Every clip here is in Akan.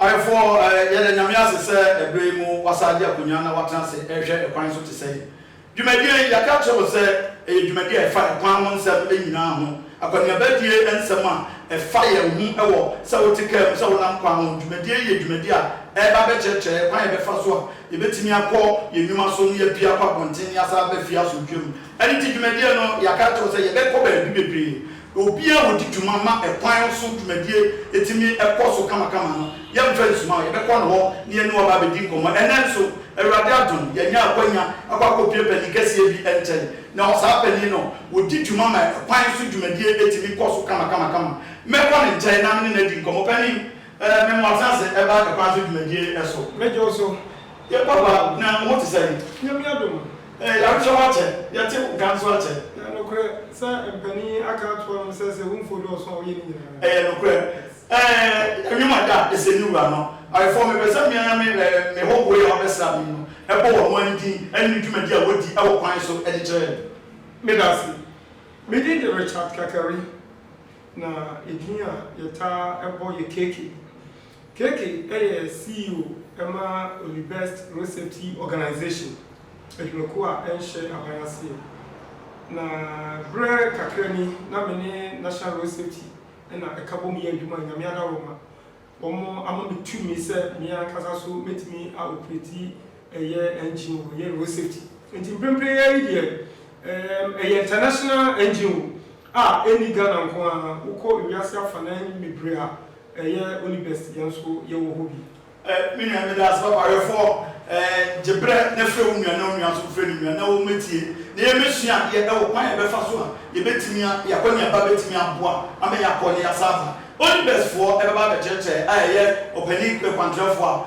Ayefo, yɛda Nyame ase sɛ ɛberɛ yi mu wɔasan agye akonwa na wɔatena ase rehwɛ ɛkwan so te sɛ yi. Dwumadie yi, yɛaka akyerɛ mo sɛ ɛyɛ dwumadie a ɛfa ɛkwan ho nsɛm nyinaa ho, akɔneaba die nsɛm a ɛfa yɛn ho wɔ sɛ wote kaa mu, sɛ wonam kwan ho. Dwumadie yi yɛ dwumadie a ɛreba abɛkyerɛkyerɛ yɛn kwan a yɛbɛfa so a yɛbɛtumi akɔ yɛn nnwuma so ne yɛapue akɔ abɔnten ne yɛasan aba fie asomdwoeɛ mu. Ɛno nti dwumadie no, yɛaka akyerɛ wo sɛ yɛbɛkɔ baabi bebree Obi a ɔdi dwuma ma ɛkwan so dwumadie tumi kɔ so kamakama no, yɛmfa nsuma a, yɛbɛkɔ ne hɔ na yɛne no aba abɛdi nkɔmmɔ. Ɛnnɛ nso, Awurade adom, yɛanya akwanya akɔ akɔpue panin kɛseɛ bi nkyɛn. Na ɔsaa panin no, ɔdi dwuma ma ɛkwan so dwumadie tumi kɔ so kamakamakama. Mɛkɔ ne nkyɛn na me ne no adi nkɔmmɔ. Panin, ɛɛ, me mmoa, tena ase, ɛba ɛkwan so dwumadie so. Mɛgye wo so, yɛn papa, na wo ho te sɛn? Nyame adom. Ɛyɛ yarekyɛ ho akyɛ, yɛte wo nka nso akyɛ. Ɛyɛ nokorɛ sɛ mpanin yi aka ato anom sɛ sɛ ɛwɔ mfuo dɔɔso a woyɛ ne nyinaa. Ɛyɛ nokorɛ ɛɛ ɛnwom a da ɛsɛ ne wura no ayefoɔ mepɛ sɛ me ara me ɛɛ me hɔhoɔ yi a wɔabɛsra me yi no ɛbɔ wɔn ani din ɛne ne dwumadi a wɔdi ɛwɔ kwan so ɛde kyerɛ yɛn. Meda ase. Me din de Richard Kakari na edin a yɛtaa ɛbɔ yɛ Keke. Keke yɛ CEO ma Olibest Road Safety Organisation adwumakuo a ɛnhyɛ aban aseɛ. Na berɛ kakra ni na me ne National Road Safety na ɛka bom yɛ adwuma a Nyame adaworoma. Wɔn ama me tumi sɛ me ankasa nso mɛtumi a operate ɛyɛ engine o, ɛyɛ road safety. Nti mprempren ara yi deɛ ɛɛm ɛyɛ international engine o a ɛnni Ghana nko ara, wokɔ ewiase afanan bebree a Ɛyɛ only best yɛn nso yɛwɔ hɔ bi. Me nua meda ase papa wɛfoɔ gye berɛ na frɛ wo nua na wo nua nso frɛ ne nua na wɔn mɛtie na yɛ mɛsua adeɛ ɛwɔ kwan a yɛbɛfa so a yɛbɛtumi a yɛ akɔ neaba bɛtumi aboa ama yɛ akɔ ne yɛ asan aba only best foɔ ɛbɛba abɛkyerɛkyerɛ a ɛyɛ ɔpanin kwantrɛfoɔ a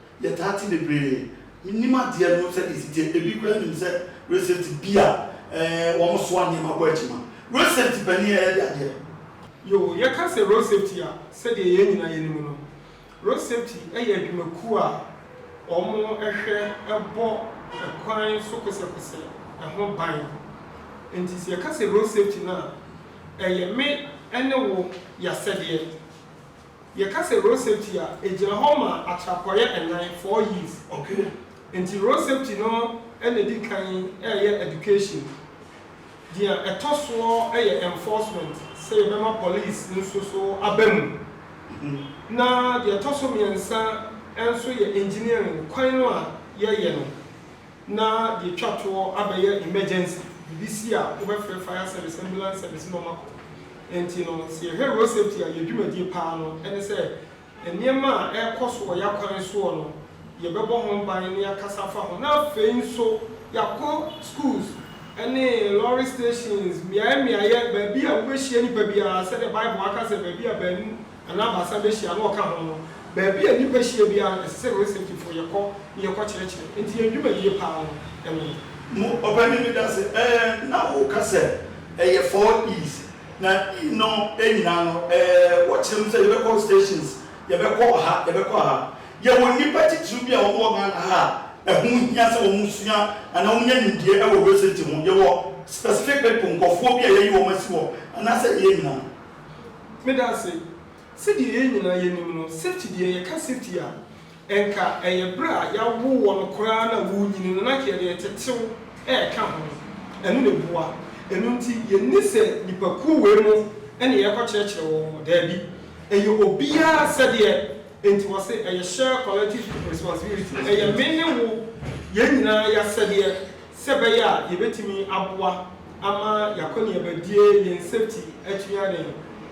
Yɛtaa te bebree, menim adeɛ no sɛdeɛ ɛsi teɛ, ebi koraa nim sɛ recent bi a wɔn soa nneɛma kɔ akyima, road safety panin a yɛde adeɛ. Yoo, yɛka sɛ road safety a, sɛdeɛ yɛn nyinaa yɛnim no, road safety yɛ adwumakuo a wɔn hwɛ bɔ kwan so kosɛkosɛ ho ban, nti sɛ yɛka sɛ road safety no a, ɛyɛ me ne wo y'asɛdeɛ. Yɛka sɛ road safety a, ɛgyina hɔ ma atrapɔeɛ nnan, four Y's, okay? Nti road safety no na ɛdi kan yɛ education. Deɛ ɛtɔ soɔ yɛ enforcement, sɛ yɛbɛma police nso so aba mu. Na deɛ ɛtɔ so mmiɛnsa nso yɛ engineering, kwan no a yɛyɛ no. na yɛtwa toɔ abɛyɛ emergency biribi si a wobɛfrɛ fire service, ambulance service na wɔakɔ. Ɛnti no sɛ yɛhwɛ road safety a yɛn dwumadie paa no ɛne sɛ nneɛma a ɛrekɔ so wɔ yɛn akwan soɔ no yɛbɛbɔ ho ban na yɛakasa afa ho na afei nso yɛakɔ schools ɛne lorry stations mmeaeɛ mmeaeɛ baabi a wobɛhyia nipa biara sɛdeɛ bible aka sɛ baabi a baanu anaa baasa behyia na ɔka ho no, baabi a nnipa hyia biara no, ɛsɛ sɛ Researchfo yɛ kɔ na yɛkɔ kyerɛkyerɛ. Enti yɛn dwumadie paa no, ɛno no. Mu ɔpanyin bi ka sɛ, Ɛɛ, na woka sɛ ɛyɛ four E's, na E no nyinaa no, ɛɛ, wɔkyerɛ mu sɛ yɛbɛkɔ stations, yɛbɛkɔ ha, yɛbɛkɔ ha. Yɛwɔ nnipa titiriw bi a wɔwɔ Ghana ha a ɛho hia sɛ wɔsua anaa wɔnya nimdeɛ wɔ research ho. Yɛwɔ specific people, nkurɔfoɔ bi a yɛayi wɔn asi hɔ, anaasɛ yɛn nyinaa? Medase. Sɛdeɛ yɛn nyinaa yɛnim no, safety deɛ, yɛka safety a, nka ɛyɛ berɛ a yɛawo wɔ no koraa na worenyini no, na nka yɛde ɛtetew ɛreka ho. Ɛno na ɛboa. Ɛno nti, yɛnni sɛ nnipakuo wei mo na yɛrekɔkyerɛkyerɛ wɔn mo. Daabi. Ɛyɛ obiara asɛdeɛ. Enti wɔse ɛyɛ shared collective responsibility. Ɛyɛ me ne wo, yɛn nyinaa y'asɛdeɛ sɛ ɛbɛyɛ a yɛbɛtumi aboa. ama y'akɔneabadie, yɛn safety akyiri aden,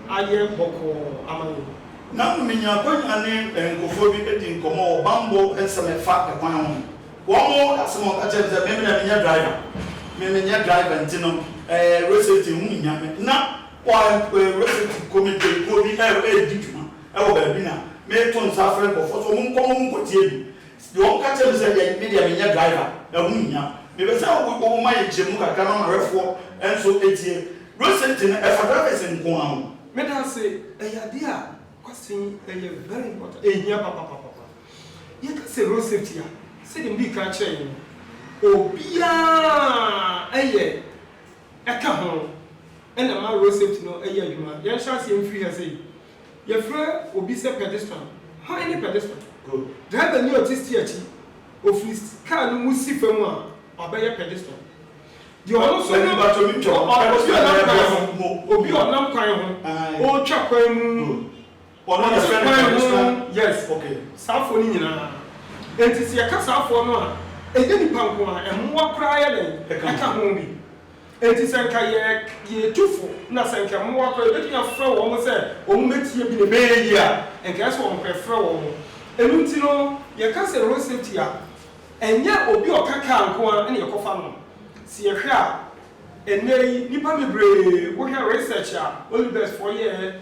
ayɛ bɔkɔɔ ama yɛn. Na menya akwanya ne nkurɔfoɔ bi di nkɔmmɔ wɔ bammɔ nsɛm a ɛfa kwan ho. Wɔn asɛm a wɔka kyerɛɛ me sɛ, me me deɛ menyɛ driver, me menyɛ driver nti no eh, road safety ho nhia me. Na wɔ eh, road safety committee kuo bi eh, redi dwuma wɔ baabi na meto nsa afrɛ nkurɔfoɔ sɛ wɔn nkɔmmɔ wɔn nkɔtie me. Deɛ wɔn ka kyerɛ me sɛ deɛ me deɛ me nyɛ driver ɛho nhia me pɛ sɛ wo wo ma yɛ nkyerɛmu kakra ma mahwɛfoɔ nso tie road safety no ɛfa drivers nko ara ho. Meda ase ɛyɛ adeɛ a kwasi ɛyɛ very important ɛhia papapapapa yɛ ka sɛ road safety a sɛdeɛ me dii kan kyerɛ yɛn no obiara ɛyɛ ɛka ho ɛna ɛma road safety no ɛyɛ adwuma yɛn hyɛ aseɛ mfiri ha sɛ yi. Yɛfrɛ obi sɛ pɛdestal. Hwan ne pɛdestal? Drivani a ɔte stia akyi. Ɔfiri kaa no mu si fam a, wabɛyɛ pɛdestal. Deɛ ɔno nso ne obi a ɔnam kwan ho. Obi a ɔnam kwan ho, ɔretwa kwan mu, ɔte kwan ho. Yes, saa foɔ no nyinaa. Enti sɛ yɛka saa foɔ no a, ɛnyɛ nnipa nko ara, mmoa koraa yɛ dɛn? Ɛka ho bi. Enti sɛ anka yɛretu fo na sɛ anka mmoa kɔ a, yebetumi afrɛ wɔn sɛ wɔmmetie bi na ɛbɛyɛ yiye a, anka ɛsɛ sɛ wɔn kɔ. Yɛfrɛ wɔn. Ɛno nti no, yɛka sɛ road safety a, ɛnyɛ obi a ɔka kaa nko ara na yɛkɔfa no. Sɛ yɛhwɛ a, ɛnnɛyi nnipa bebree, wohwɛ research a Olivesfoɔ yɛeɛ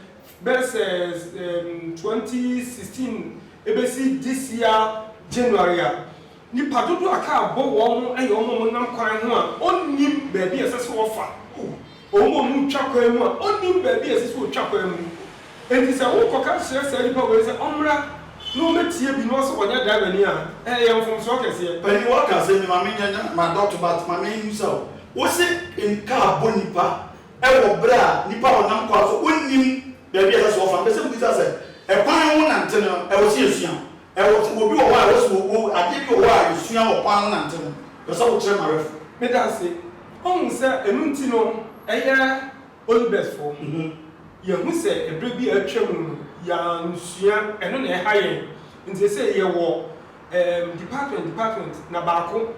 bɛyɛ sɛ twenty sixteen besi this year January a, Nnipa dodoɔ a kaa bɔ wɔn no yɛ wɔn a wɔnam kwan ho a wɔnnim baabi a ɛsɛ sɛ wɔfa, wɔn a wɔretwa kwan mu a wɔnnim baabi a ɛsɛ sɛ wɔtwa kwan mu. Enti sɛ worekɔka kyerɛ saa nnipa wei sɛ wɔmmra na wɔmmɛtie bi na wo sɛ wɔnyɛ drivani a, ɛyɛ mfomsoɔ kɛseɛ. Panyin wɔ kaa sɛ, Mema me nya m'adɔto but ma me mmusa wo, wo se kaa bɔ nnipa wɔ berɛ a nnipa a wɔnam kwan so wɔnnim baabi a ɛsɛ sɛ wɔfa? Mepɛ sɛ mebisa sɛ, kwan ho nante no ɛwɔ sɛ yɛsua? Ɛwɔ te obi wɔ hɔ a wasi wɔ wow adeɛ bi wɔ hɔ a yɛsua wɔ kwan ho nante no pɛ sɛ wokyerɛ ma rɛfo. Medanse ɔhu sɛ ɛno nti no ɛyɛ Olubɛs fo. Yɛahu sɛ ɛberɛ bi a atwa mu no yɛansua ɛno na ɛha yɛn nti sɛsɛi yɛwɔ ɛɛm department department na baako.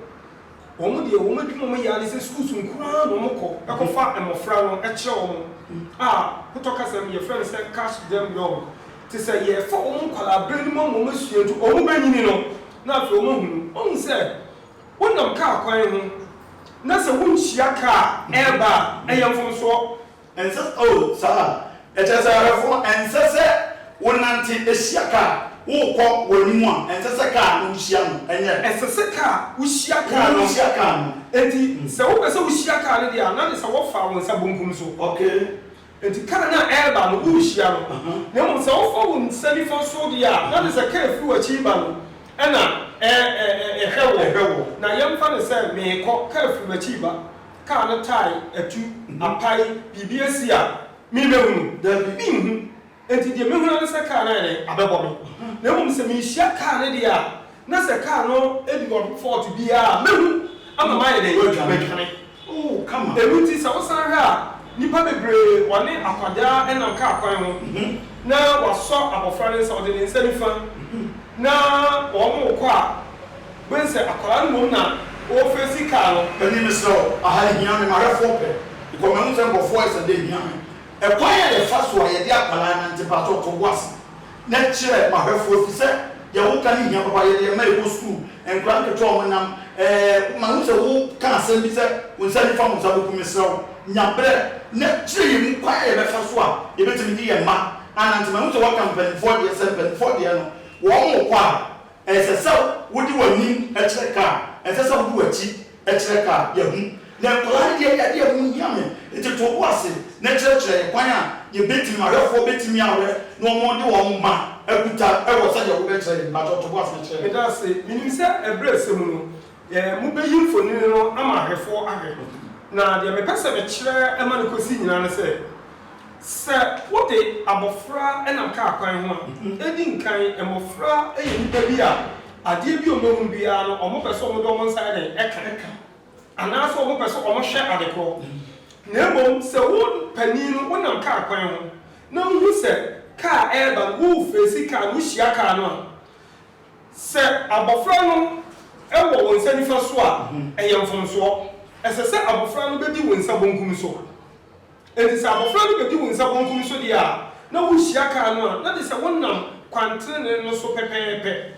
Wɔn deɛ wɔn adwuma a wɔyɛ ara ne sɛ schools nko ara na wɔkɔ kɔfa mmɔfra no kyerɛ wɔn a hotɔ kasa mu yɛfrɛ no sɛ cash them young. Te sɛ yɛrefa wɔn nkwadaa berɛ no mu ama wɔn asua nti wɔn bɛnyini no na afei wɔn ahunu. Woahu sɛ wonam kaa kwan ho na sɛ wonhyia kaa a ɛreba a ɛyɛ mfomsoɔ. Ɛnsɛ sɛ, oh, saa. Ɛkyerɛ sɛ awerɛfoɔ, ɛnsɛ sɛ wonante hyia kaa a worekɔ wɔn anim a, ɛnsɛ sɛ kaa no wohyia no, ɛnyɛ? Ɛsɛ sɛ kaa wohyia kaa no. Wohyia kaa no. Enti, sɛ wopɛ sɛ wohyia kaa no deɛ a, na ne sɛ wofa wo nsa bonkum so. Okay. Enti kaa no a ɛreba no, worehyia no. Na mmom sɛ wofa wo nsa nifa so deɛ a, na ne sɛ kaa firi w'akyi reba no, ɛna ɛhwɛ woɔ. Na yɛmfa no sɛ merekɔ, kaa firi m'akyi reba. Car no tae atu, apae, biribi asi a merebehu no? Dabi, minhu. Enti deɛ mehu ara ne sɛ car no ayɛ dɛn? Abɛbɔ me. Na mmom sɛ merehyia car no deɛ a, na sɛ car no di ɔho fault bi a, mɛhu ama mayɛ dɛn? Madwane. Ɛno nti sɛ wosan hwɛ a, nnipa bebree wɔne akwadaa nam car kwan ho na wɔasɔ abɔfra no nsa, ɔde ne nsa nifa na wɔrekɔ a, Wobɛhu sɛ akwadaa no mmom na ɔrefeesi kaa no. Panin, Mesrɛ wo, aha nhia me, m'ahwɛfoɔ pɛ. Because mahu sɛ nkurɔfoɔ ayɛ sɛ adeɛ hia me. Ɛkwan a yɛfa so a yɛde akwadaa nante, paatɔ to bo ase na kyerɛ m'ahwɛfoɔ ɛfiri sɛ deɛ woka no hia papa. Yɛde yɛn mma rekɔ sukuu, nkwadaa nketewa a wɔnam ɛɛ, mahu sɛ woka asɛm bi sɛ wo nsa nifa wo nsa bɛku. Mesrɛ wo, nya berɛ na kyerɛ yɛn mu kwan a yɛbɛfa so a yɛbɛtumi de yɛn mma anante. Mahu sɛ woaka mpanimfoɔ deɛ, sɛ mpanimfoɔ deɛ no wɔn rekɔ a, Ɛnsɛ sɛ wode w'anim kyerɛ ka a, ɛnsɛ sɛ wode w'akyi kyerɛ ka a. Yɛ hu. Na nkwadaa no deɛ, yɛ adeɛ a ɛho hia me. Nti to wo bo ase na kyerɛkyerɛ yɛn kwan a yɛbɛtumi, awɛfoɔ bɛtumi awɛ na wɔde wɔn mma akuta wɔ sɛdeɛ wobɛkyerɛ yɛn. Mpakyɛw to bo ase na kyerɛ yɛn. Meda ase. Menim sɛ ɛberɛ sɛ mu no, Mobeyi mfonini no ama ahwɛfoɔ ahwɛ. Na deɛ mepɛ sɛ mekyerɛ ma no kɔsi nyinaa ne sɛ, sɛ wode abɔfra nam kaa kwan ho a, ɛdi nkan, mmɔfra yɛ nnipa bi a adeɛ bi a wɔbɛhunu biara no, wɔpɛ sɛ wɔde wɔn nsa yɛ dɛn? Ka. Anaasɛ wɔpɛ sɛ wɔhwɛ ade korɔ. Na mmom sɛ wo panin no wonam kaa kwan ho na wohu sɛ kaa reba no, wofeesi kaa no, wohyia kaa no a, Sɛ abofra no wɔ wo nsa nifa so a, ɛyɛ mfomsoɔ. Ɛsɛ sɛ abofra no bɛdi wo nsa bonkum so. Enti sɛ abofra no bɛdi wo nsa bonkum so deɛ a, na wohyia kar no a, na gye sɛ wonam kwan tenenee no so pɛpɛɛpɛ.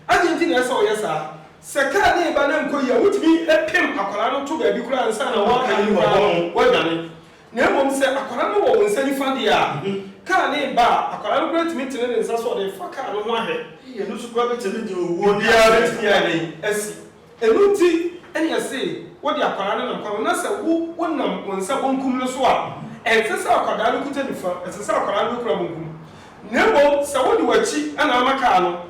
Adɛn nti na ɛsɛ sɛ ɔyɛ saa? Sɛ kar no reba na ɛnkɔ yie a, wotumi pem akwadaa no to baabi koraa ansa na woaka ne mu koraa no, wadwane. Na mmom sɛ akwadaa no wɔ wo nsa nifa deɛ a, kaa no reba a, akwadaa no koraa tumi tene ne nsa so a ɔde refa kaa no ho ahwɛ. Ei, ɛno nso koraa bɛtumi de owuo ne Biribiara aserɛ bɛtumi ayɛ dɛn? asi. Ɛno nti na yɛse wode akwadaa no nam kwan ho na sɛ wo, wonam wo nsa bonkum no so a, ɛnsɛ sɛ akwadaa no kuta nifa, ɛsɛ sɛ akwadaa no bɛkura bonkum. Na mmom sɛ wode w'akyi na ama kaa no,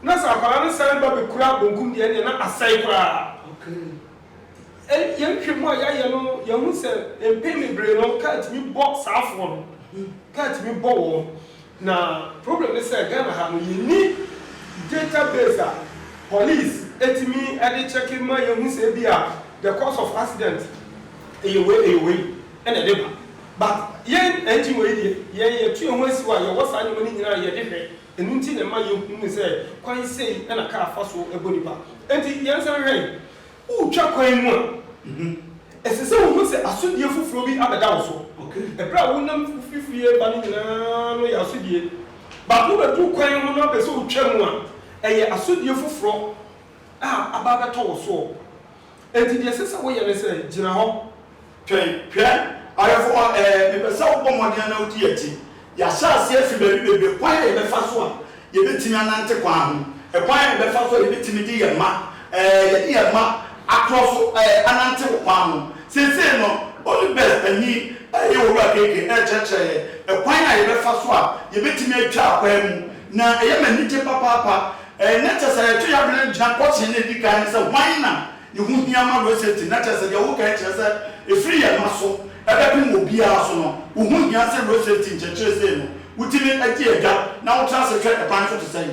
na sɛ akwadaa no san ba bɛkura bonkum deɛ, ɛnneɛ na asɛe koraa. Okay. Yɛn nhwehwɛmu a yɛayɛ no, yɛahu sɛ mpɛn bebree no car tumi bɔ saafoɔ no, car tumi bɔ wɔn. Na problem ne sɛ Ghana ha no, yɛnni data base a police tumi de check ma yɛhu sɛ ebia the cause of accident yɛ wei, yɛ wei na ɛde ba. But yɛn NGO yi deɛ, yɛn yɛto yɛn ho asiw a yɛwɔ saa nneɛma no nyinaa a yɛde hwɛ. Ɛno nti na ɛma yɛhunu sɛ kwan sei na kar fa so bɔ nnipa. Enti yɛn nsa nhwɛ yi, woretwa kwan mu a, ɛsɛ sɛ wohu sɛ asodie foforɔ bi abɛda wo so. Ɛberɛ a wonam firi fie reba no nyinaa no yɛ asodie. Baako bɛduru kwan ho na wopɛ sɛ wotwa mu a, ɛyɛ asodie foforɔ a aba abɛtɔ wo soɔ. Enti deɛ ɛsɛ sɛ woyɛ ne sɛ, gyina hɔ, twɛn. Hwɛ, ɔyɛfoɔ, ɛɛ, mepɛ sɛ wobɔ mmɔden na wodi akyi. Yɛahyɛ aseɛ afi baabi bebree, kwan a yɛbɛfa so a yɛbɛtumi anante kwan ho, kwan a yɛbɛfa so a yɛbɛtumi de yɛn mma, ɛɛ, yɛde yɛn mma atorɔ so, ɛɛ, anante wo kwan ho. Seesei no, Holy Best panin reyɛ Owura Gege rekyerɛkyerɛ yɛn kwan a yɛbɛfa so a yɛbɛtumi atwa akwan mu, na ɛyɛ me anigye papaapa, Ɛnyɛ kyɛ sɛ yɛtwe yɛadwene gyina pɔkyee no a edi kan no sɛ hwan na ne ho hia ma Rosetti na kyerɛ sɛ deɛ wokan kyerɛ sɛ ɛfiri yɛn mma so bɛpem obiara so no, wo ho hia sɛ Rosetti nkyerɛkyerɛ sei no wotumi di adwa na wotra ase hwɛ ɛkwan so te sɛn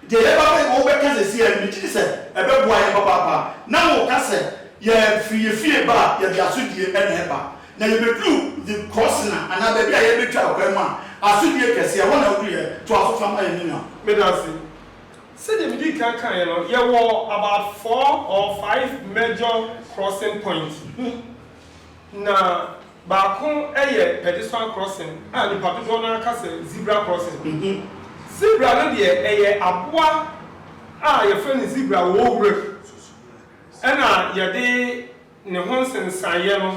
deɛ yɛreba abɛyɛ wɔ wobɛka seesei a megye di sɛ ɛbɛboa yɛn papaapa na woka sɛ yɛfiri yɛn fie ba a yɛde asodie na ɛba Na yebeduu Vip Korsina, anaa baabi a yɛrebetwa ɔkwan mu a, asodie kɛse, ɛhɔ na wodui ɛ. Toa so fa ma yɛn, me nua. Meda ase. Sɛdeɛ medii kan kaeɛ no, yɛwɔ about four or five major crossing points bi, na baako yɛ pedestrian crossing a nnipa dodoɔ no ara ka sɛ zebra crossing. Zebra no deɛ, ɛyɛ aboa a wɔfrɛ no zebra wɔ wuram, ɛnna wɔde Ne ho nsensaneeɛ no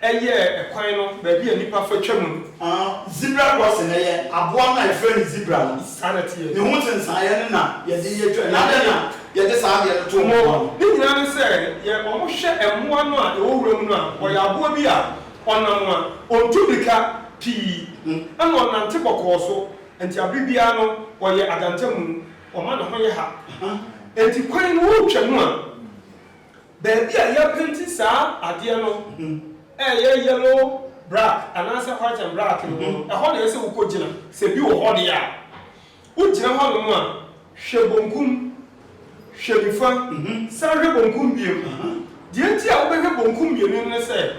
yɛɛ kwan no baabi a nnipa fa twa mu no. Zebra crossing yɛ aboa no a yɛfrɛ no zebra no. Saa na ɛteɛ. Ne ho nsensaneeɛ no na yɛde yɛ twa. Na adɛn na yɛde saa adeɛ no too mmoa no? Ne nyinaa ne sɛ yɛ wɔhwɛ mmoa no a ɛwɔ wuram no a, ɔyɛ aboa bi a ɔnam a ɔntu mmirika pii ɛna ɔnante bɔkɔɔ so, nti abere biara no ɔyɛ adantamu, ɔma ne ho yɛ ha. Nti kwan no woretwa mu a Baabi a yɛapenti saa adeɛ no a ɛyɛ yellow brack anaasɛ white and black no mu no, ɛhɔ na ɛsɛ sɛ wokɔgyina. Sɛ bi wɔ hɔ deɛ a, wogyina hɔnom a, hwɛ bonkum, hwɛ nifa, san hwɛ bonkum bio. Deɛ nti a wobɛhwɛ bonkum mmienu no ne sɛ,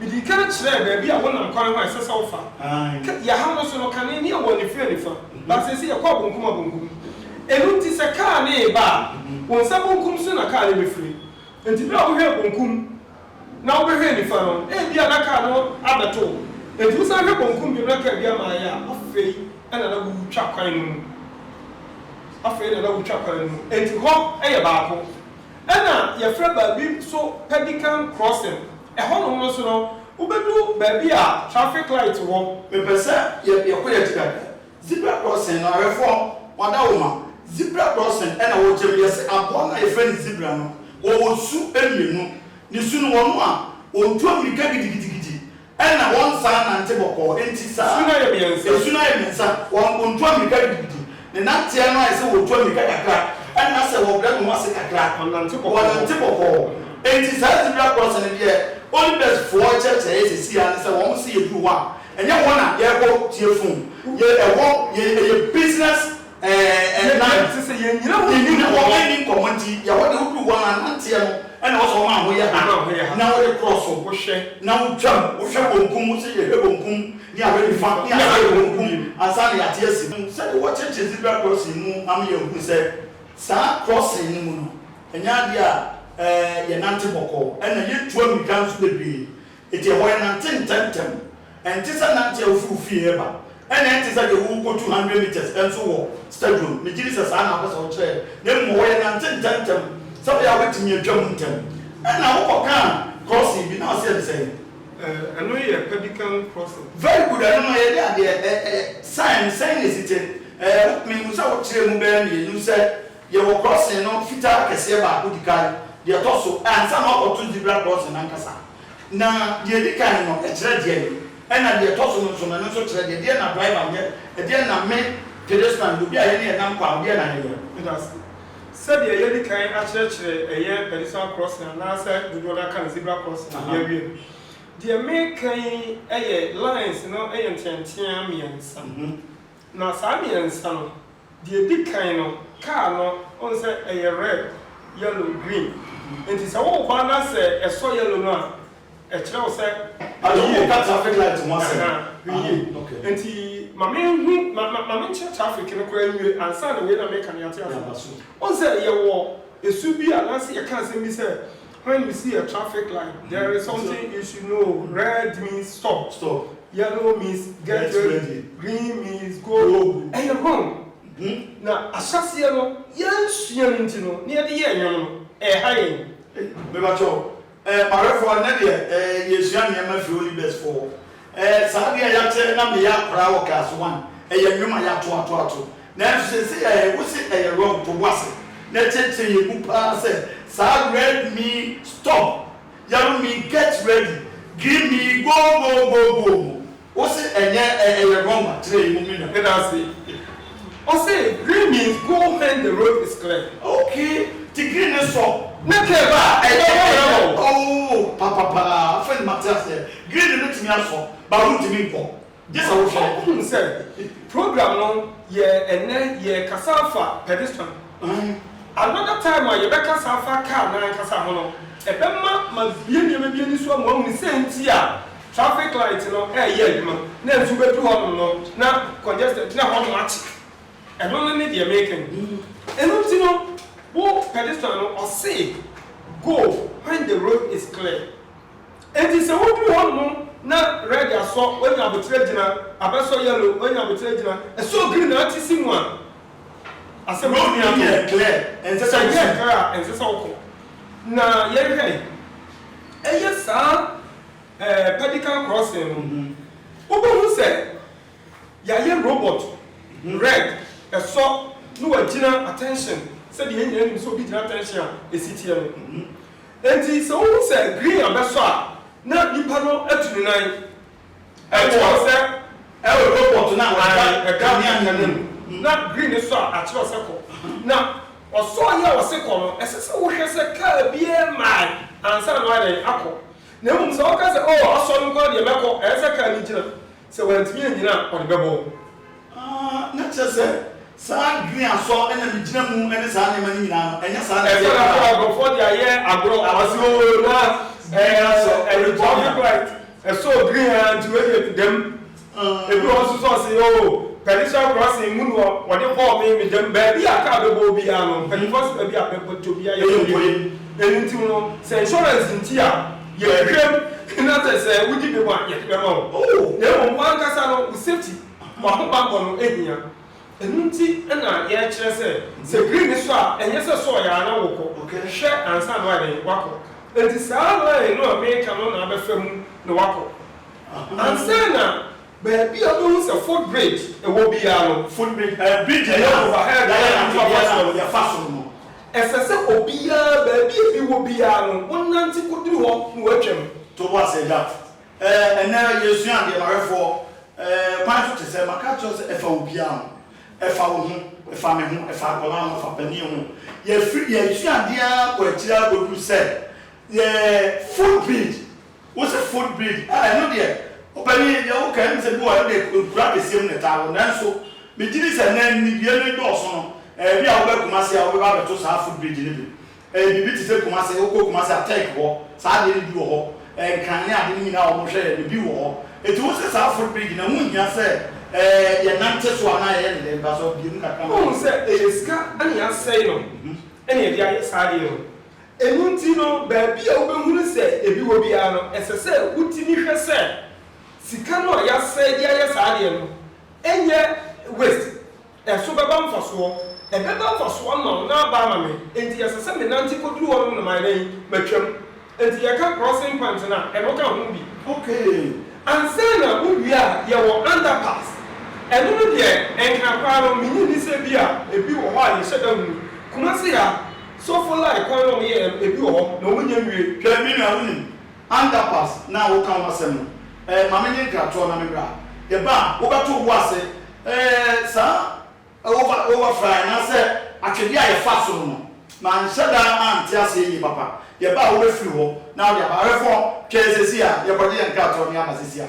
Midii kan kyerɛɛ baabi a wonam kwan ho a ɛsɛ sɛ wofa. Ka, yɛn ha no nso no, kane ne ɛwɔ anifere anifa, but seesei yɛkɔ abenkum abenkum. Ɛno nti sɛ kaa no reba a, wo nsa benkum so na kaa no befiri. Enti bere a wohwɛɛ benkum na wobɛhwɛɛ nifa no, ebia na kaa no abɛto wo. Enti wosan hwɛ benkum bio na kaa bi ama ayɛ a, afei na na woretwa kwan no mu. Afei na na woretwa kwan no mu. Enti hɔ yɛ baako. Ɛna yɛfrɛ baabi nso Pelican Crossing. Ɛhɔnom nso no, wobɛdu baabi a traffic light wɔ. Mepɛ sɛ yɛkɔ yɛn akyi kakra. Zebra crossing no, awɛfoɔ, wɔada wo ma. Zebra crossing na wɔkyerɛ mu. Yɛse aboa no a yɛfrɛ no zebra no, wɔwɔ su mmienu. Ne su no, wɔn a wɔtu ammirika gidigidigidi na wɔnsan nnante bɔkɔɔ. Enti saa. Su no ayɛ mmiɛnsa. Su no ayɛ mmiɛnsa. Wɔntu ammirika gidigidi. Ne nanteɛ no ayɛ sɛ wɔtu ammirika kakra, ɛnna sɛ wɔbrɛ ne ho ase kakra, wɔnante bɔkɔɔ. Enti saa zebra crossing no deɛ Olympias foɔ kyerɛkyerɛ yɛ seesei ara ne sɛ wɔn se yɛduru hɔ a, ɛnyɛ hɔ na yɛrekɔ tie fun. Yɛ, ɛhɔ yɛ, ɛyɛ business ɛɛ line. Te sɛ yɛnnyina hɔ nni nkɔmmɔ. Yɛnni hɔ nni nkɔmmɔ nti yɛ hɔ deɛ woduru hɔ ara nanteɛ no ɛnna ɛwɔ sɛ wo maa ho yɛ ha na wode korɔ so na wotwam, wohwɛ bonkum, wo se yɛhwɛ bonkum, ne awerɛ nifa ne aseɛ wɔ wɔn kum ansa na yɛate asi mu sɛdeɛ wɔkyekyere zebra crossing mu ama yɛahunu sɛ saa crossing no mu no ɛnyɛ adeɛ a ɛɛ yɛnante bɔkɔɔ ɛna yɛntu ammirika nso bebree enti ɛhɔ yɛnante ntɛmntɛm ɛnte sɛ nante a wofiri wo fie reba ɛna ɛnte sɛ deɛ worekɔtu hundred metres nso wɔ stadium megye di sɛ saa na wopɛ sɛ wokyerɛ na mmom ɛhɔ yɛnante ntɛmntɛm sɛdeɛ a wobɛtumi atwa mu ntɛm ɛna wokɔkaa crossing bi na ɔseɛ ne sɛn? Eh ɛno yɛ pelican crossing. Very good ɛno no yɛde adeɛ eh eh sign no sɛn na ɛsi te eh wo me hu sɛ wo kyerɛ mu bɛyɛ mmienu sɛ yɛwɔ crossing no fitaa kɛseɛ baako di kan deɛ ɛtɔ so eh ansa na wakɔ to zebra crossing no ankasa na deɛ ɛdi kan no ɛkyerɛ deɛn ɛna deɛ ɛtɔ so no nso no ɛno nso kyerɛ deɛn ɛdeɛn na driver nyɛ ɛdeɛn na me pedestrian obi a yɛne yɛnam kwan no deɛn na yɛyɛ. Meda ase. Sɛdeɛ yɛadi kan akyerɛkyerɛ ɛyɛ Pedestrian Crossing anaasɛ dodoɔ no ara ka no Zebra Crossing a yɛawie no. Deɛ mereka yi yɛ lines no yɛ nteatea mmiɛnsa. Na saa mmiɛnsa no, deɛ ɛdi kan no, car no, wohu sɛ ɛyɛ red, yellow, green. Nti sɛ woreba na sɛ ɛsɔ yellow no a, Ɛkyerɛ wo sɛ. Ade wo nka traffic light ho asɛm. Aha, hwɛ yie. Ah, okay. Nti ma me nhu, ma, ma, ma me nkyerɛ traffic no koraa nwie ansa na wei na meka no yɛate ase. Yɛaba so. Wohu sɛ yɛwɔ ɛsu bi a anaasɛ yɛka asɛm bi sɛ, when you see a traffic light, there is something you should know, red means stop, Stop. yellow means get Get ready, ready. green means go. Go. Ɛyɛ wrong. Mhm. Na ahyɛaseɛ no, yɛansua no nti no, na yɛde yɛɛ nnwom no, ɛreha yɛn. Ei, mebakyɛw, Eh Marefoɔ nnɛ deɛ eh yɛresua nneɛma firi Holy Best foɔ eh saa adeɛ a yɛakyɛ na meyɛ akwadaa wɔ class one ɛyɛ nnwom a yɛato ato ato nanso seesei eh wo se ɛyɛ wrong to bo ase na ɛkyerɛkyerɛ yɛn mu paa sɛ saa red me stop yellow me get ready green me go go go go mu Ose ɛnyɛ ɛ ɛyɛ wrong akyerɛ yi mummy na meda ase. Ose green means go hen the road is clear. Ok nti green ne sɔ. Ne curve a ɛyɛ hɔ yɛ wɔ. Ooh papa paa afei na mate aseɛ green no bɛtumi asɔ but wontumi nkɔ gye sɛ wohwɛ. Wohunu sɛ program no yɛ ɛnnɛ yɛ kasa afa pedestrian another time a yɛbɛkasa afa car no ankasa ho no ɛbɛma ma bue nneɛma bi ani so ama woahunu sɛn nti a Traffic light no ɛyɛ adwuma na nsu bɛduru hɔnom no na congested nti na hɔnom akye. Ɛno no ne deɛ meka yi. Ɛno nti no wo pedestrian no ɔse go when the road is clear. Ɛnti sɛ woduru hɔnom na red asɔ, wanya aboterɛ gyina, abɛsɔ yellow, wanya aboterɛ gyina, ɛsɔɔ green na ate si mu a, asɛm no nni ano. Road no yɛ clear, ɛnsɛ sɛ wo si. Sɛ ɛyɛ clear a, ɛnsɛ sɛ wokɔ. Na yɛnhwɛ, ɛyɛ saa. ɛɛ pedicle crossing no ho. Wobɛhu sɛ yɛayɛ robot ho red, ɛsɔ na wagyina attention sɛdeɛ yɛn nyinaa nim sɛ obi gyina attention a ɛsi teɛ no ho. Enti sɛ wohu sɛ green abɛsɔ a na nipa no atu ne nan ɛkyerɛ wo sɛ ɛwɔ robot no a ɛda kanea no anim na green sɔ a akyerɛ wo sɛ kɔ. Na ɔsɔɔ yi a wɔse kɔ no ɛsɛ sɛ wohwɛ sɛ car biara mmae ansa na wayɛ dɛn akɔ. Na mmom sɛ ɔka sɛ, 'Oh, asɔre nko ara deɛ mɛkɔ, ɛyɛ sɛ kar no gyina. Sɛ wantumi annyina a, ɔde bɛbɔ wo. Aah, na kyerɛ sɛ saa adwene a sɔ na megyina mu ne saa nneɛma no nyinaa no, ɛnyɛ saa na ɛteɛ koraa. Ɛsɛ na afei nkurɔfoɔ de ayɛ agorɔ. Ɔse, Oh, na green ara sɔ, ɛrebɔ me a. Traffic light, ɛsɔɔ green ara nti wei deɛ dɛm. Ebi wɔ hɔ nso sɛ ɔse oo Persian crossing mu no wɔde kɔɔ me me gyam baabi a car bɛbɔ obiara no mpanyinfoɔ se baabi a bɛkɔtɔ obiara yɛ nkɔ yie ɛno nti no sɛ insurance nti a yɛhwehwɛ mu na sɛ sɛ wogye bɛmu a yɛde bɛma wo na mmom w'ankasa no wo safety w'ahobanbɔ no hia ɛno nti na yɛkyerɛ sɛ sɛ green no sɔ a ɛnyɛ sɛ sɔɔ yɛ a na wokɔ hwɛ ansa na wayɛ dɛn wakɔ ɛnti saa line no a meka no na abɛfa mu na wakɔ. Ansa na baabi a wobehu sɛ footbridge wɔ biara no, footbridge, ɛyɛ bridge a ɛyɛ overhead a nnipa fa so, wɔde afa soro no, ɛsɛ sɛ obiara, baabi a ebi wɔ biara no, wonante koduru hɔ na wɔatwam. To bo ase, Agya. Ɛɛ, ɛnnɛ yɛresua adeɛ, m'awɛfoɔ. Ɛɛ, kwan so te sɛ, maka akyerɛ wo sɛ ɛfa obiara ho. Ɛfa wo ho, ɛfa me ho, ɛfa akwadaa ho, ɛfa panin ho. Yɛfiri, yɛresua adeɛ ara kɔ akyiri ara kɔduru sɛ, yɛɛ, footbridge, Wo se foot bleed ah ɛno deɛ ɔpanin deɛ wo ka ɛm sɛ bi wɔ hɔ ɛno deɛ nkura akɛseɛ mu na ɛtaa wɔ nanso me gyidi sɛ nnɛ nnidie no dɔɔso no ɛɛ bi a wo bɛ Kumasi a wo bɛba abɛto saa foot bleed no bi ɛɛ biribi te sɛ Kumasi wo kɔ Kumasi a Turk hɔ saa adeɛ no bi wɔ hɔ ɛɛ nkran ne ade no nyinaa a wɔn hwɛ yɛ no bi wɔ hɔ ɛti wo se saa foot bleed no ɛho nhia sɛ ɛɛ yɛ nante so anaa yɛyɛ ne dɛn paso bue mu kakra ma yɛn. Wohu sɛ ɛyɛ sika ɛna yɛasɛe no ɛna yɛde ayɛ saa adeɛ no Ɛno nti no, baabi a wobɛhunu sɛ ebi wɔ biara no, ɛsɛ sɛ wotumi hwɛ sɛ sika no a yɛasɛe de ayɛ saa adeɛ no nyɛ waste. Ɛso bɛba mfasoɔ. Ɛbɛba mfasoɔ ama wo na aba ama me. Enti ɛsɛ sɛ menante kɔduru hɔnom na mayɛ dɛn? Matwam. Enti yɛka crossing point no a, ɛno ka ho bi. Okay. Ansa na wowie a, yɛwɔ underpass. Ɛno no deɛ, ɛnkena koraa no, mennye nni sɛ ebia ebi wɔ hɔ a yɛhyɛ da hunu. Kumasi ha. So fo lie kwan na ɔmo yɛ yɛ no ebi wɔ hɔ na ɔmo nnya nwie. Hwɛ me nua wonim underpass no a woka ho asɛm no ɛɛ ma menye nkratoɔ na memmra yɛba a wobɛto wobo ase ɛɛ saa over over fry anaasɛ atwedeɛ a yɛfaa so no no manhyɛ da ante aseɛ yie papa yɛba a wobɛfiri hɔ na wode aba rɛfɔn twɛn sɛsi a yɛkɔgye yɛn nkratoɔ no yɛaba sɛsi a.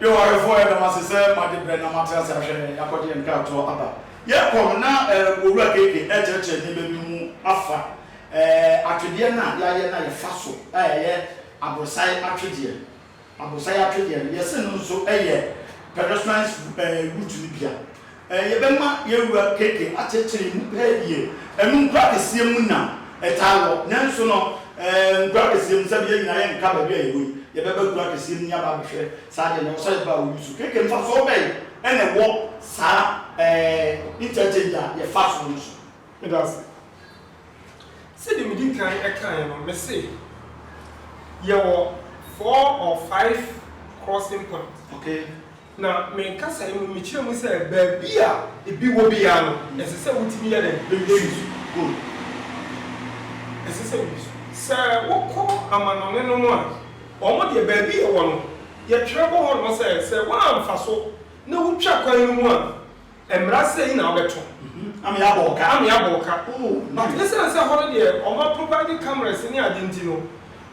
Yehowarefoɔ yɛda mo ase sɛ mo agye berɛ na moate ase ahwɛ yɛn yɛakɔgye yɛn nkratoɔ aba. Yɛn kɔm na Owura KK rekyerɛkyerɛ nneɛma bi mu afa atwedeɛ no a yɛayɛ na yɛfa so a ɛyɛ aborosae atwedeɛ. Aborosae atwedeɛ no yɛse no nso yɛ pedestrians route no bi a Yɛbɛma yɛn wura KK akyekyere mu pɛɛ deɛ ɛno nkura kɛseɛ mu na ɛtaa wɔ, nanso no nkura kɛseɛ mu sɛbe yɛn nyinaa yɛnka baabi a yɛwɔ yi, yɛbɛba nkura kɛseɛ mu na yɛaba abɛhwɛ saa deɛ no ɛwɔ sɛ yɛba a wɔyi so. KK mfasoɔ bɛn na ɛwɔ saa interchange a yɛfa soɔ no so? Meda ase. Sɛdeɛ medi kan kaeɛ no, mese yɛwɔ four or five crossing points. Okay. Na me nkasae mu no, mekyerɛɛ mu sɛ baabi a ebi wɔ biara no, ɛsɛ sɛ wotumi yɛ dɛn? Bewie su. Good. Ɛsɛ sɛ wowie su. Sɛ wokɔ amannɔne no mu a, wɔn deɛ, baabi a ɛwɔ no, yɛtwerɛ bɔ hɔnom sɛ, sɛ woamfa so na wutwa kwan no mu a, Mmara sei na wobɛto. Na me abɔ wo ka. Na me abɔ wo ka. But esiane sɛ hɔ no deɛ wɔma provide cameras ne ade nti no,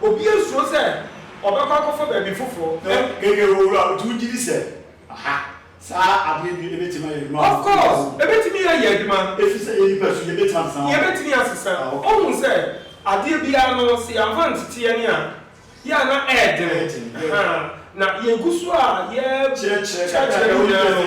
obiara suro sɛ ɔbɛkɔ akɔfa baabi foforɔ. Keke wɔ wura, nti wogye di sɛ aha saa adeɛ bi bɛtumi ayɛ adwuma? Of course, ɛbɛtumi ayɛ adwuma. Ɛfiri sɛ yɛn nipa su, yɛbɛtumi asesa. Yɛbɛtumi asesa. Ɔhu sɛ adeɛ biara no, sɛ yɛamfa nteteɛ ne a. Yɛ a na ɛyɛ den ahaa na yɛgu so a yɛkyerɛkyerɛ no nyinaa no,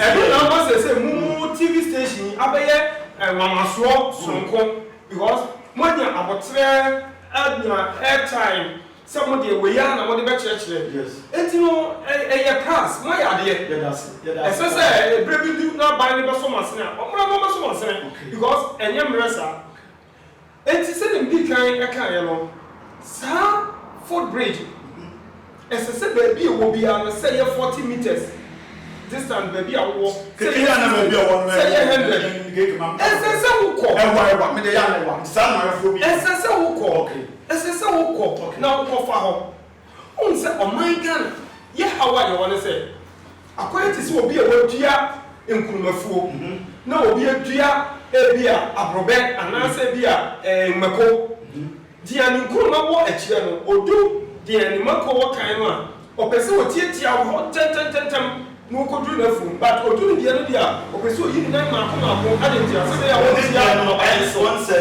ɛno na ama seesei mo mo TV station yi abɛyɛ nwanwasoɔ sononko because moanya aboterɛ anya air time sɛ mo deɛ wei ara na mode bɛkyerɛkyerɛ enti no ɛyɛ pass, moayɛ adeɛ. Ɛsɛ sɛ berɛ bi du na aban no bɛsɔ mo asene a, ɔmmra na ɔmmɛsɔ mo asene because ɛnyɛ mmerɛ saa. Enti sɛnea midii kan kaeɛ no, saa footbridge no, ɛsɛ sɛ baabi a ɛwɔ biara no, sɛ ɛyɛ forty metres distance baabi a wowɔ, sɛ ɛyɛ sixty, sɛ ɛyɛ hundred, ɛsɛ sɛ wokɔ. Ɛsɛ sɛ wokɔ, ɛsɛ sɛ wokɔ na wokɔfa hɔ. Wohu sɛ ɔman Ghana yɛ haw a yɛwɔ ne sɛ akɔyɛ te sɛ obi a wadua nkurumafuo na obi adua ebi a aborɔbɛ anaasɛ ebi a ɛɛ mako. Deɛ ne nkuruma wɔ akyire no, ɔdu deɛ ne mako wɔ kan no a, ɔpɛ sɛ ɔtiatia wɔ hɔ ntɛntɛntɛntɛm na ɔkɔduru n'afuom. But ɔdu ne deɛ no deɛ a, ɔpɛ sɛ ɔyi ne nan mmaako mmaako. Adɛn ntia? Sɛdeɛ ɛbɛyɛ a ɔntia nnɔbaeɛ no so.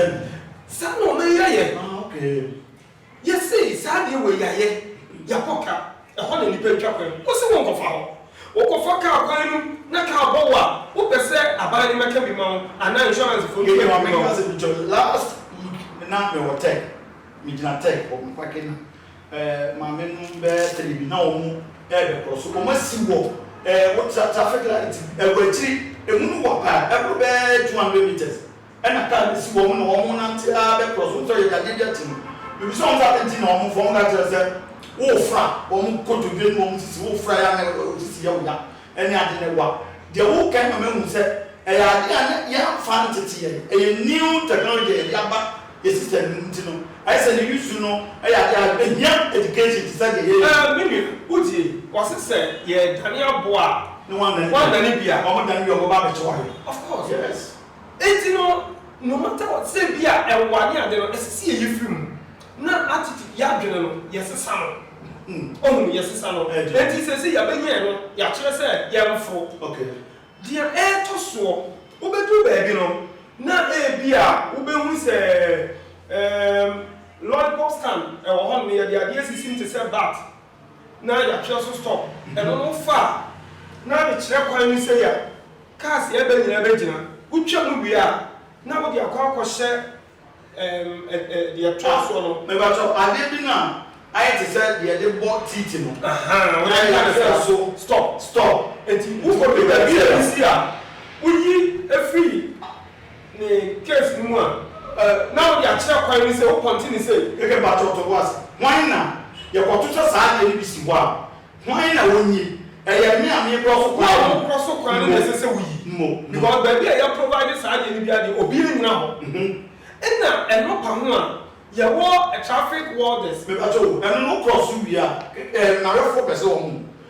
Saa na ɔman yi ayɛ. Yɛsee saa adeɛ wei yɛayɛ, yɛakɔ ka, ɛhɔ na nnipa atwa kwan. Wɔse wonkɔfa hɔ. Wokɔfa kaa kwan no na kaa bɔ wo a, wopɛ sɛ aban no mmɛka bi ma wo anaa insurance foɔ mmɛka bi ma wo. Last week na mewɔ tech, megyina tech hɔ, me parke na maame nom bɛyɛ three bi na wɔn rebɛkorɔ so, wɔn asi wɔ wo traffic light bi wɔ akyiri, ɛmu no wa paa, ɛboro bɛyɛ two hundred metres. Ɛna kar bi si wɔn na wɔn renante ara bɛkorɔ so. Wohu sɛ ɔyɛ dadeɛ bi ate mu. Mebisa wɔn sɛ adɛn nti na wɔmfa wɔn ka kyerɛ sɛ wofra wɔn kotodwe ne wɔn sisi, wofra yɛ a na wo sisi yɛ wo ya ne ade no ɛwa. Deɛ woka yi ma mahu sɛ ɛyɛ adeɛ a na yɛamfa antete yɛn. Ɛyɛ new technology a yɛde aba yɛn system no mu nti no, ayɛ sɛ ne use no yɛ adeɛ a ɛhia education te sɛ deɛ yɛyɛ yi. Me nua, wotie? Wɔse sɛ yɛredane aboa a, wɔadane bi a. Wɔdane bi a wɔba abɛkyɛ wo ayɛ. Of course, yes. Enti no, nnoɔma taa wɔ te sɛ bi a ɛwa ne ade no, ɛsɛ sɛ yɛyi firi mu, na atete yɛadwene no, yɛsesa no. Ɔhunu? Yɛsesa no. Enti seesei yɛabɛnya ɛno, yɛakyerɛ sɛ yɛmforo. Deɛ ɛretɔ soɔ, wobɛduru baabi no, na ebi a wobɛhunu sɛ, ɛɛm, lollipop stand wɔ hɔnom, yɛde adeɛ asisi mu te sɛ bat, na yɛatwerɛ so stop ɛno no wofa a na de kyerɛ kwan no sei a cars ɛɛba nyinaa bɛgyina wotwa mu wie a na wode akɔ akɔhyɛ ɛɛm ɛ ɛ deɛ ɛtoa soɔ no. Mebakyɛw adeɛ bi no a ayɛ te sɛ deɛ yɛde bɔ tiiti no Ahaa wode na yɛatwerɛ so stop stop nti wokɔduru baabi a ɛbi si a woyi firi ne case no mu a, eh, na wode akyerɛ kwan no sɛ wo pɔnte ne sei. Hwehwɛ ba tɔɔtɔ bo ase. Hwan na yɛkɔtoto saa adeɛ no bi si hɔ a, hwan na ɔnyi? Ɛyɛ me a mekorɔ so kwan no? Wo a wokorɔ so kwan no na ɛsɛ sɛ woyi. Mo, mo. Because baabi a yɛprovide saa adeɛ no biara deɛ, obiara nnyina hɔ. Ɛna ɛnɔpa ho a, yɛwɔ traffic warders. Mepa kyɛw o, ɛno no wokorɔ so wie a, eh, nnawɛfoɔ pɛ sɛ wɔhu.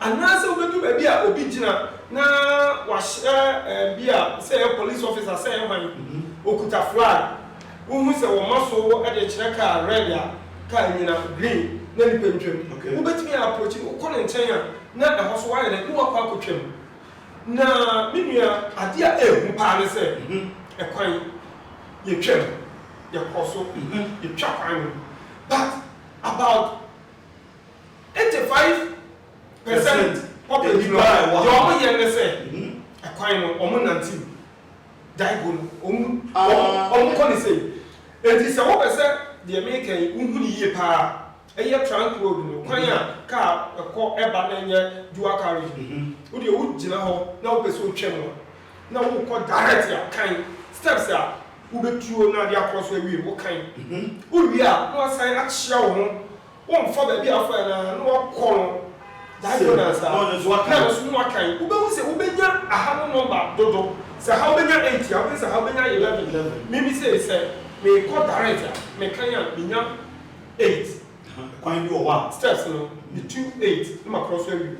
Anaasɛ wobedu baabi a obi gyina na wahyɛ bi a sɛ ɛyɛ police officer sɛ ɛyɛ hwan, okuta flag, wuhu sɛ wɔma so de rekyerɛ kaa red a kaa nnyina, green na nipa ntwam. Wubetumi approach no, wokɔ ne nkyɛn a na ɛhɔ so wayɛ dɛn? Na wakɔ akotwam. Na me nua, ade a ehu paa ne sɛ ɛkwan, yetwam, yɛkɔ so, yetwa kwan no, but about Eighty five percent of nnipa deɛ ɔmo yɛ ne sɛ ɛkwan no ɔmo nante mu, Daigo no ɔmo ɔmo kɔ ne sei. Enti sɛ wopɛ sɛ deɛ meeka yi wohu no yie paa a, ɛyɛ trunk road no kwan a car ɛkɔ ɛba na ɛnyɛ dual carriage no, wo deɛ wo gyina hɔ na wopɛ sɛ otwa mu a na wokɔ direct a kan steps a wobɛtuo na ade akɔ so awie wo kan, wo wie a na wasan akyea wo ho Wo nfa baabi a afa no ara na wakɔ no that day na nsa na nso na wakan wo bɛ hu sɛ wo bɛ nya aha no number dodo sɛ ha wo bɛ nya eight a wo bɛ sɛ ha wo bɛ nya eleven me me sɛ sɛ me kɔ direct a me kan a me nya eight kwan bi wɔ hɔ a steps no me tu eight na ma kɔrɔ so awi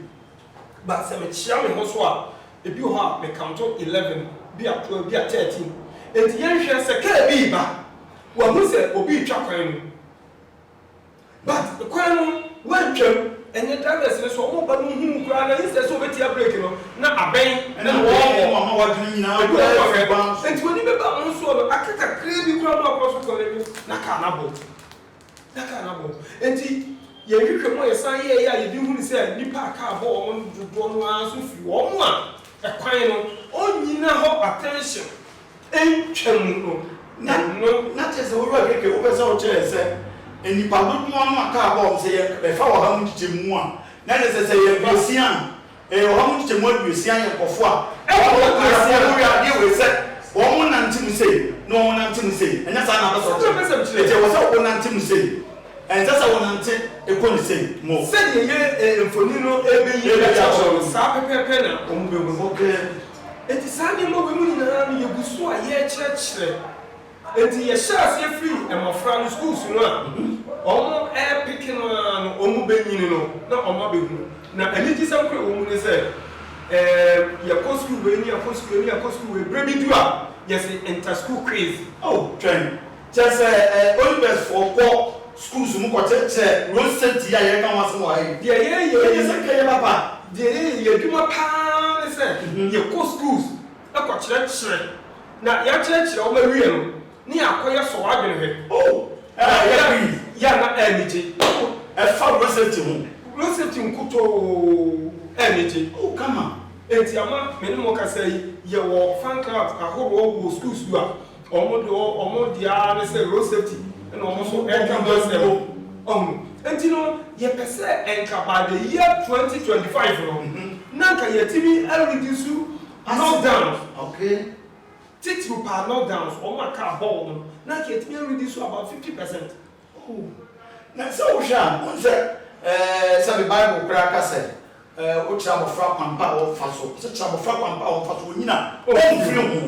but sɛ me kyia me ho so a ebi wɔ hɔ a me count eleven bi a twelve bi a thirteen eti yɛn hwɛ sɛ kaa bi ba wa hu sɛ obi twa kwan no. But kwan no woatwam ɛnyɛ drivers no so ɔmo ba no hu wo koraa na instead sɛ obetia break no na abɛn na wɔɔkɔ ebi wɔ hɔ a hwɛ nti w'ani bɛba ɔmo soɔ no aka kakraa bi koraa na wakɔ so kɔ n'anim na car no abɔ na car no abɔ nti yɛn hwehwɛ mu a yɛsan yɛɛyɛ a yɛde hunu sɛ nnipa a car bɔ wɔn no dodoɔ no ara nso firi wɔn a kwan no ɔnnyina hɔ attention. ntwam no na no. Na kyerɛ sɛ, wo wura keke wo pɛ sɛ wo kyerɛ sɛ nnipa dodoɔ no a kaa bɔɔ no sɛ yɛ bɛfa ɔha mu nkyekyɛmu a na ne sɛ sɛ yɛ aduosia a ɛyɛ ɔha mu nkyekyɛmu aduosia yɛ nkɔfoɔ a ɛwɔ hɔ kaa sɛ wɔn wɔ yadeɛ wei sɛ wɔn nante mu sei na wɔn nante mu sei ɛnyɛ saa na apɛ sɛ ɔkyerɛ nti ɛwɔ sɛ wo nante mu sei ɛnsɛ sɛ wo nante ɛkɔ ne sei mo. Sɛdeɛ yɛ mfoni no ɛbɛ yi akyerɛ no saa pɛpɛɛpɛ na wɔn bɛ hu. Enti saa nneɛma wei mu nyinaa no yɛgu so a yɛrekyerɛkyerɛ. Enti yɛhyɛ aseɛ firi mmɔfra no schools no a wɔrepeke no ara no wɔbɛnyini no na wɔabɛhunu. Na anigyesɛm korɔ a ɛwɔ mu ne sɛ ɛɛm yɛkɔ school wei ne yɛakɔ school wei ne yɛakɔ school wei berɛ bi du a yɛse inter school quiz. Oh twɛn! Kyerɛ sɛ, ɛ, Olympiadsfoɔ kɔ schools mu kɔkyerɛkyerɛ road safety a yɛreka ho asɛm wɔ ha yi. Deɛ yɛreyɛ Ɛnyɛ yi, sɛ nka ɛyɛ papa. deɛ yɛyɛ yi, adwuma pa ara ne sɛ yɛkɔ schools kɔkyerɛkyerɛ, na yɛakyerɛkyerɛ wɔn awie no, na yɛakɔyɛ sɔ w'adwene hwɛ. Oh, ɛ, Na yɛ yɛ, quiz. yɛ na anigye. Oh, ɛfa road safety ho. Road safety nkutoo, anigye. Oh, come on. Enti ama me ne mo rekasa yi, yɛwɔ fan clubs ahoroɔ wɔ schools a. Wɔn deɛ wɔn deɛ ara ne sɛ road safety na wɔn nso ɛka ho asɛm. Ɔho nti no yɛpɛ sɛ nka by the year twenty twenty five no na nka yɛtumi a reduce knock downs. Okay. Titiriw paa knock downs wɔn a car bɔ wɔn no na nka yɛtumi a reduce about fifty percent. Hu. Na sɛ wohwɛ a, wohu sɛ, ɛɛ, sɛbe Bible koraa ka sɛ, ɛɛ, wokyerɛ abɔfra kwan pa a ɔmfa so. Ɔse, Kyerɛ abɔfra kwan pa a ɔmfa so, onyina, omfiri ho,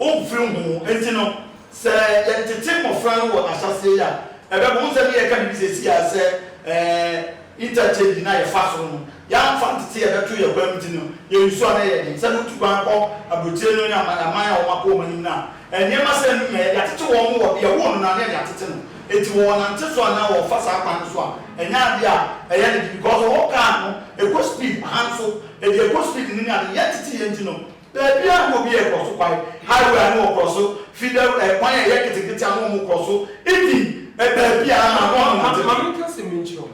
omfiri ho. Enti no, sɛ yɛtete mmɔfra no wɔ ahyɛaseɛ yi a, ɛbɛboa. Wohu sɛ me reka biribi seesei a sɛ, ɛɛ. Ita kyɛ bi na yɛfa soro no, yɛamfa ntete yɛbɛto yɛn kwan mu nti no, yɛn nsu ano yɛ den. Sɛnea wotu kwan kɔ aburokyire no ne amanaman a wɔakɔ wɔn anim no a, nneɛma sɛɛ no nyinaa, yɛde atete wɔn wɔ bea a ɛwɔ no no anaa yɛde atete no nti wɔnante so anaa wɔmfa saa kwan no so a, ɛnyɛ ade a ɛyɛ ne de because wɔwɔ car no ɛkɔ speed ahanso ɛde ɛkɔ speed no ne ade, yɛntete yɛn nti no. Baabi a na obi rekɔ so kwae, highway a na wɔkɔ so fi da ɛ, kwan a ɛyɛ ketekete a na wɔkɔ so di ɛ, baabi a na wɔn ho te. Maame ka sɛ menkyerɛ ho.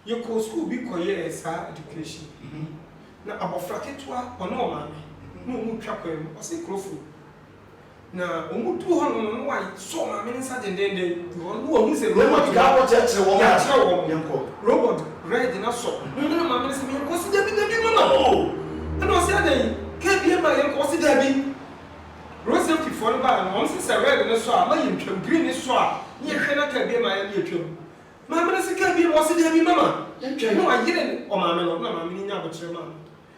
Yɛkɔɔ sukuu bi kɔyɛɛ saa education no. Na abɔfra ketewa, ɔne ɔmaame, na wɔretwa kwan mu. Ɔse, Krofo. Na wɔn duu hɔ nom no, Noa sɔɔ Maame no nsa dendenden, na ɔno na ɔhuu sɛ robot no, yɛakyerɛ wɔn, robot red no asɔ. Ɔno na Maame no sɛ, Menkɔ? Ɔse, Dabi, dabi mama o! Ɛna ɔse, Adɛn? Kaa bie ma yɛnkɔ? Ɔse, Dabi. Road safety foɔ no baa no, wɔn se sɛ red no sɔ a, ma yɛntwam, green no sɔ a, ne yɛhwɛ na kaa bie ma yɛn ne yɛtwam. Maame no se, Kaa bie ma? Ɔse, Dabi mama. Ɔtwɛn na ɔyere ɔmaame no, na maame no nyaa aboterɛ maa no.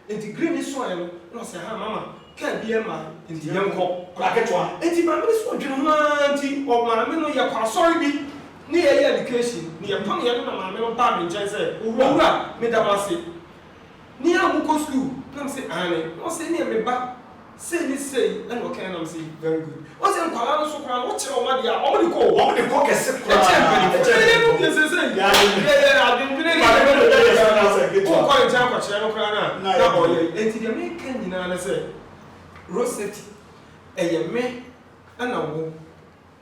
Enti green no suaeɛ no na ɔsɛ ha mama car biaa mma enti yɛnkɔ. Akwadaa ketewa. Enti maame no so ɔdwene ho aa nti maame no yɛkɔ asɔre bi ne yɛyɛ education ne yɛpameɛ no na maame no baa me nkyɛn sɛ owura meda mo ase ne a mokɔ school na mese aane na ɔse ɛneɛ me ba Sei ne sei ɛna ɔkae nam se very good ose nkwadaa no so koraa no wokyerɛ wɔn adeɛ a wɔn de kɔ o. Wɔn de kɔ kɛse koraa ɛkyɛn mpanyinfoɔ ɛkyɛn mpanyinfoɔ deɛ seisei yɛ yɛ adwendwene ne yɛ yɛ yɛ yɛ na sɛ wokɔ ne nkyɛn kɔkyerɛ no koraa no a na ɔyɛ yi enti deɛ meka nyinaa ne sɛ road safety ɛyɛ me ɛna wo.